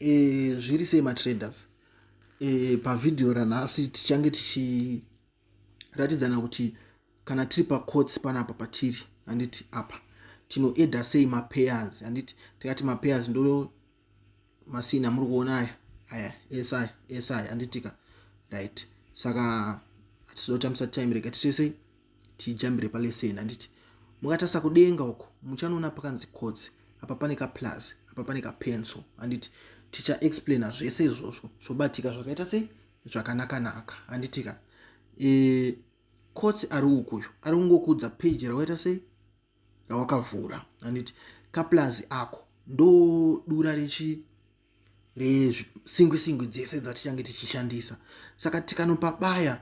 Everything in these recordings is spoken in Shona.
e, zviri sei matraders e, pavhidhiyo ranhasi tichange tichiratidzana kuti kana tiri pacots panapa patiri handiti apa tinoeda sei mapayers handiti tikati mapayers ndo masini amuri kuona aya aya ese aya ese aya handitika right saka hatizoda kutambisa time rega tichesei tijambire paleseni handiti mukatasa kudenga uko muchanoona pakanzi kotsi apa pane kaplus apa pane kapenso handiti tichaexplaina zvese izvozvo zvobatika zvakaita sei zvakanakanaka handitika e, kotsi ari ukuyo ari kungokuudza peji rakaita sei rawakavhura handiti kaplus ako ndodura richi resingwi singwi dzese dzatichange tichishandisa saka tikanopa baya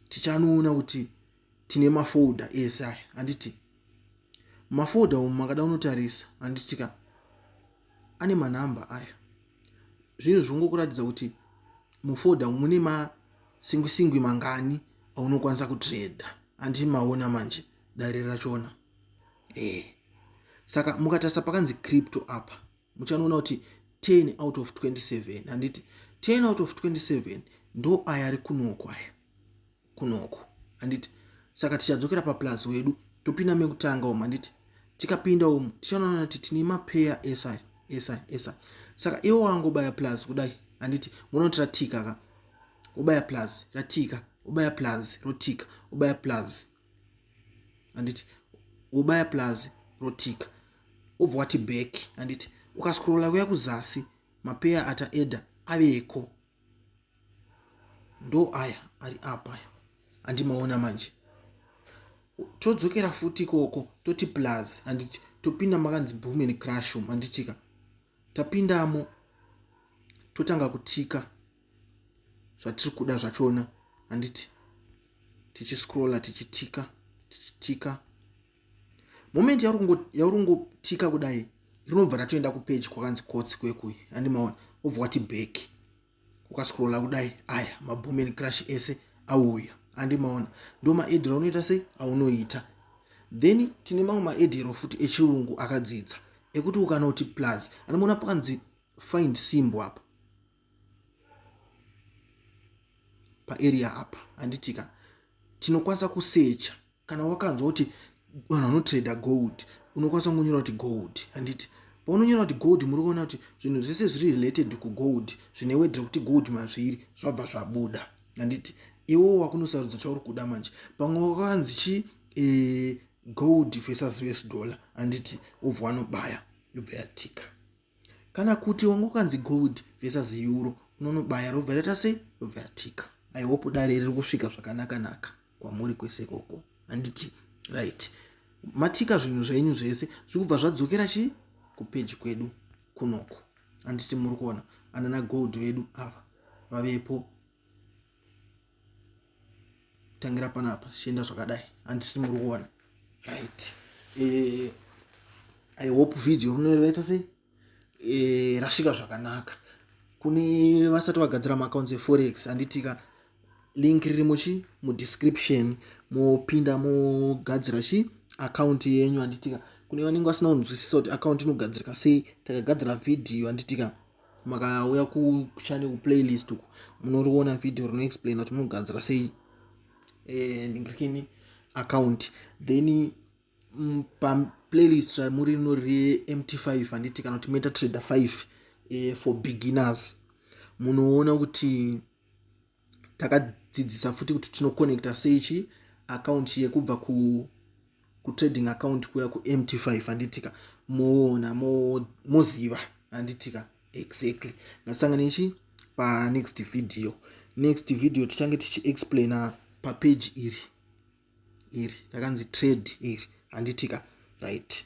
tichanoona kuti tine mafolder ese aya handiti mafolder umu makada unotarisa handiti ka ane manhamba aya zvinhu zvingokuratidza kuti mufolder umu mune masingwi singwi mangani aunokwanisa kutreda handiti maona manje dare rachona ee eh. saka mukatarisa pakanzi crypto apa muchanoona kuti 10 out of 27 handiti 10 out of 27 ndo aya ari kunoko aya kunoko handiti saka tichadzokera paplus wedu topinda mekutanga umu handiti tikapinda umu tichanoona kuti tine mapeya esi esi esi saka iwo wangobaya plus kudai handiti munoti ratika ka ubaya plus ratika ubaya plus rotika ubaya plus handiti wobaya plus rotika wobva wati back handiti ukascrolla kuya kuzasi mapeya ataeda aveko ndo aya ari apa aya andimaona manje todzokera futi ikoko toti plus handiti topinda makanzi boom and crush room handitika tapindamo totanga kutika zvatiri kuda zvachona handiti tichiscrolla tichitika tichitika moment yauri ngotika kudai rinobva ratoenda kupeji kwakanzi kotsi kwekuyi handi maona obva wati back ukascrolla kudai aya mabomen crush ese auya handi maona ndo maedhero unoita sei aunoita then tine mamwe maedhero futi echirungu akadzidza ekuti ukanoti plus anoona pakanzi find simbo apa paarea apa handitika tinokwanisa kusecha kana wakanzwa kuti vanhu vanotrader gold unokwanisa kungonyora kuti gold handiti paunonyora kuti gold muri kuona kuti zvinhu zvese zviri related kugold zvine wedre kuti gold mazviri zvabva zvabuda handiti iwo wakunosarudza chauri kuda manje pamwe wakanzi chi e, gold versus us dollar handiti wobva wanobaya yobva yatika kana kuti wanga ukanzi gold versus euro unonobaya robva raita sei robva yatika i hope dare riri kusvika zvakanaka naka kwamuri kwese ikoko handiti right matika zvinhu zvenyu zvese zviri kubva zvadzokera chii kupeji kwedu kunoko handiti muri kuona anana gold vedu ava vavepo tangira panapa zvichienda zvakadai handisi muri kuona right eh, i hope video rinoraita sei eh, rasvika zvakanaka kune vasati vagadzira maaccounts eforex handitika link riri muchi mudescription mopinda mogadzira chi akaunti yenyu handitika kune vanenge vasina kunzwisisa kuti akaunti inogadzirika sei takagadzira vhidhiyo handitika makauya kuchannel kuplaylist uku munoriona video rinoexplaina kuti munoganzira sei eh, ndingakini account then mm, paplaylist ramuri rino remt 5 handiti kana kuti meta trader 5 eh, for beginners munoona kuti takadzidzisa futi kuti tinoconnecta sei chi account yekubva ku kutrading account kuya kumt five handitika moona moziva handitika exactly ngatisangane ichi panext video next video tichange tichiexplaina papeji iri iri takanzi trade iri handitika right